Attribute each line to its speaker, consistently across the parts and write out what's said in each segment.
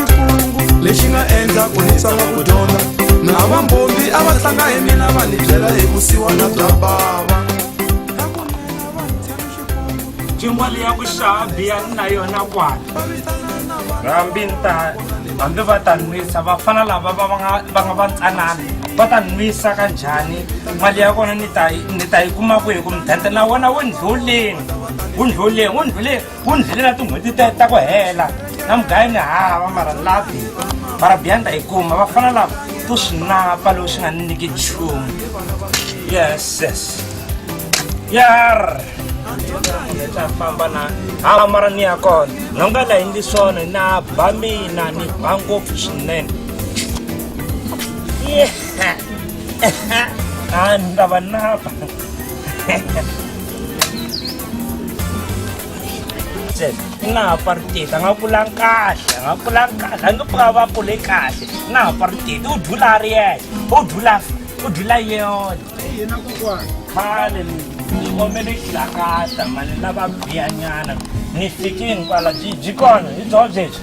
Speaker 1: kungu lexi nga endla
Speaker 2: ku ni tsaka ku dyondza na vambombi a va tlanga hi mina va ni byela hi vusiwana bya bava
Speaker 1: cingwali ya ku
Speaker 3: xava biya ni na yona kwala hambi ni ta hambi va ta nwisa vafana lava va nga va nga va ntsanana va ta nwisa ka njhani mali ya kona ni ta ni ta yi kuma kwihi ku mudende na wona wu ndlhuleni wu ndlhuleni wu ndlhuleni ku ndlile na tin'hweti ta ta ku hela na mugayi ni hava mara lapi mara biyanda yi kuma va fana lava to swi napa loko swi nga ni nyiki nchumu yes yes yar ta famba na hava mara ni ya kona no nga la yindli swona na ba mina ni ba ngopfu swinene a ni ta va napa u nga ha pariteti a nga kulanga kahle a nga kulanga kahle a nge pfuka va kule kahle u nga ha pariteti u dlula a ri yexe u dlula u dlula yona yena kokwana
Speaker 1: khale
Speaker 3: ni omele xilakata mali lava biyanyana ni fike hinkwala byi byi kona hi byo byebyi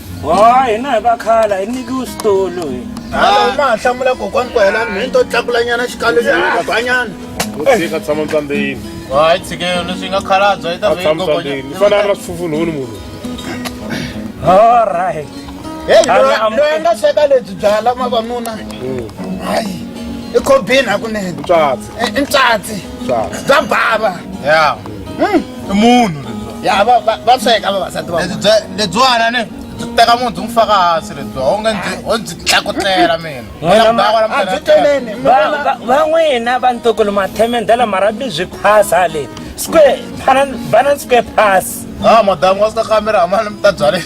Speaker 4: wa hina hi va
Speaker 3: khala hi nikiwe switulu hi halo ma ha
Speaker 1: hlamula kokwani ku hela mheni to tlakulanyana xikalo xibanyana usika tshama
Speaker 4: mtsambeni hayi tshikelo leswi nga khalabya yi ta tshama mtsambeni ni fanele a ri na
Speaker 5: swifufunhuni munhu all
Speaker 3: right heyi loyi
Speaker 1: nga sweka lebyi byala mavanuna hmm. hayi i khobini hakunene i ntsatsi bya bava ya hmm.
Speaker 4: i munhu ya va va
Speaker 1: va sweka vavasati va lebyi bya- lebyiwana
Speaker 4: ni byi teka munhu byi n'wi faka hansi lebyiwa u nge ndzi o ndzi tlakutlela mina Wena ma- a byi
Speaker 1: teleni Va- va- van'wina
Speaker 3: va ntukulu mathemendela marabyi byi phasa le square banan square pass a madamu wa sika
Speaker 4: kamera amani mi ta byaleni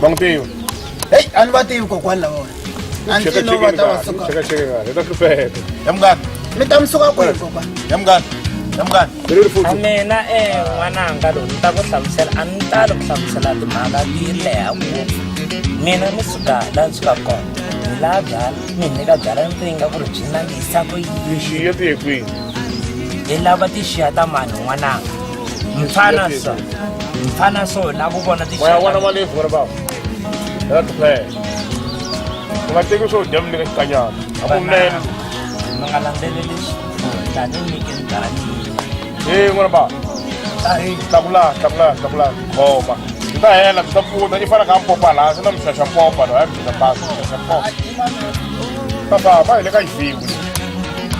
Speaker 5: va n'wi tivi heyi a ni va
Speaker 1: tivi kokwani lavona a ndzi no va ta va suka hi ta hlupheka
Speaker 5: ya mungani mi
Speaker 4: ta mi suka kwihi
Speaker 1: kokwani ya mungani
Speaker 4: ya mungani
Speaker 3: a mina e n'wananga lowu ni ta ku hlamusela a ni tali ku hlamusela timhaka ti leha ngopfu mina ni suka la ni suka kona ni laha byala mi ni ka byala ni ringa ku ri byi nangisa ku yini tixiya ti ye kwihi
Speaker 5: hi
Speaker 3: lava tixiya ta mani n'wananga mfana sa mfana so la ku vona tiwana
Speaker 5: wa lefu ri bava ra tiplaya u nga teki swo dya mi le ka xikanyana a ku nene mi nga landzeleli
Speaker 3: tani nyike ndani e n'wana
Speaker 5: bava tahi tlakula tlakula tlakula khoma swi ta hela swi ta pfuna i fanaka a popa laha swi na mi xaxa popa loyi a mi xaxa pasi xaxa popa papa va hi le ka yiviku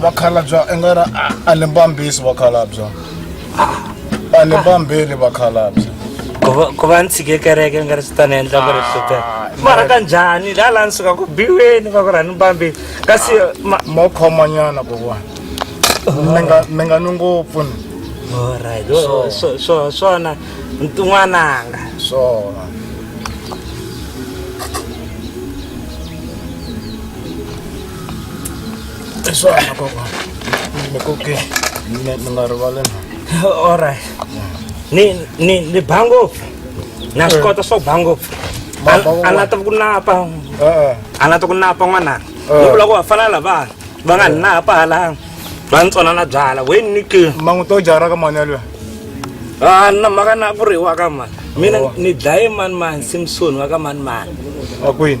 Speaker 1: vakhalabya i nga ri a ni mbambisi vakhalabya a ni mbambeli vakhalabya ku va
Speaker 3: ni tshike kereke ni nga ri swi ta ni endla ku ri hlutela mara ka njhani la la ni suka ku biweni va ku ri a ni mbambeli kasi mo
Speaker 1: khomanyana kokwani mi nga mi nga ni ngopfu ni
Speaker 3: alright swona ntun'wananga swona
Speaker 1: I swona kokwana. Mi koke. Mi mi nga rivali na. All right.
Speaker 3: Ni ni ni ba ngopfu. Na swi kota swo ba ngopfu. Ma ba ngopfu. A nga ta ku napa. Eh. A nga ta ku napa n'wananga. Eh. Ni vula ku va fana lavana. Va nga ni napa hala. Va ni tsona na byala. We ni ke. Mangu to jara ka mani
Speaker 1: yalwe. Ah
Speaker 3: na maka na ku riwa ka mani. Mina Oh. ni dlaye mani mani Simpson wa ka mani mani. A kwini.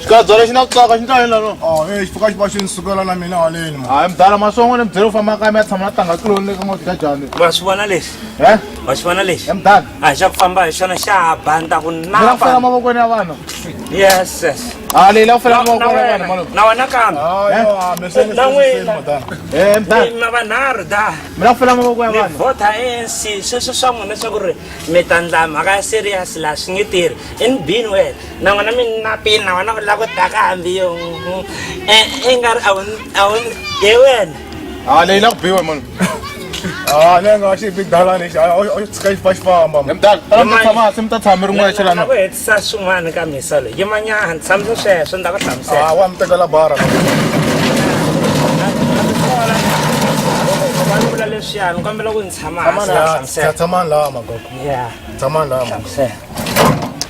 Speaker 5: xikadza lexi
Speaker 4: na ku tsaka xi ndlani lano oh, e xipuka xi va xi ni
Speaker 1: sukela na mina haleni hayi mdala masongo ni
Speaker 4: byele ku famba kaya mi ya tshama na tanga tluloni le ka n'wati ka jani wa swi vona lexi
Speaker 3: e wa swi vona lexi mdala a xa ku famba
Speaker 4: hi xona
Speaker 3: xa ha banda ku nala ku fela mavokweni
Speaker 4: ya vanhu yes yes
Speaker 3: a leyi la ku
Speaker 4: fela mavokweni ya vanhu malo na wena kambe
Speaker 3: na n'wina mdalana
Speaker 4: vanharhu
Speaker 3: da mi la ku fela mavoko ya
Speaker 4: vanhu vota anc
Speaker 3: sweswo swa n'wina swa ku ri mi ta ndla mhaka ya serious laha swi nge tirhi in bin wena na n'wana minapi na wena u lava ku daka hambi yo e, i nga ri a wu ye wena a ah, leyi la ku biwa munhu
Speaker 4: a ah,
Speaker 1: ne nga xi big dala lexi a xi tshika xi fa xi famba mtaaamase mi
Speaker 4: ta tshami rin'wana xelana ku hetisa
Speaker 3: swin'wana ka misa loyi yimanyana tshamisa sweswo ni ta ku hlamusela ah, wa mi tekela bara
Speaker 1: vula
Speaker 3: leswiyani u kambela ku ni
Speaker 1: tshamaatshamani
Speaker 3: laha magogo
Speaker 1: tshamani laha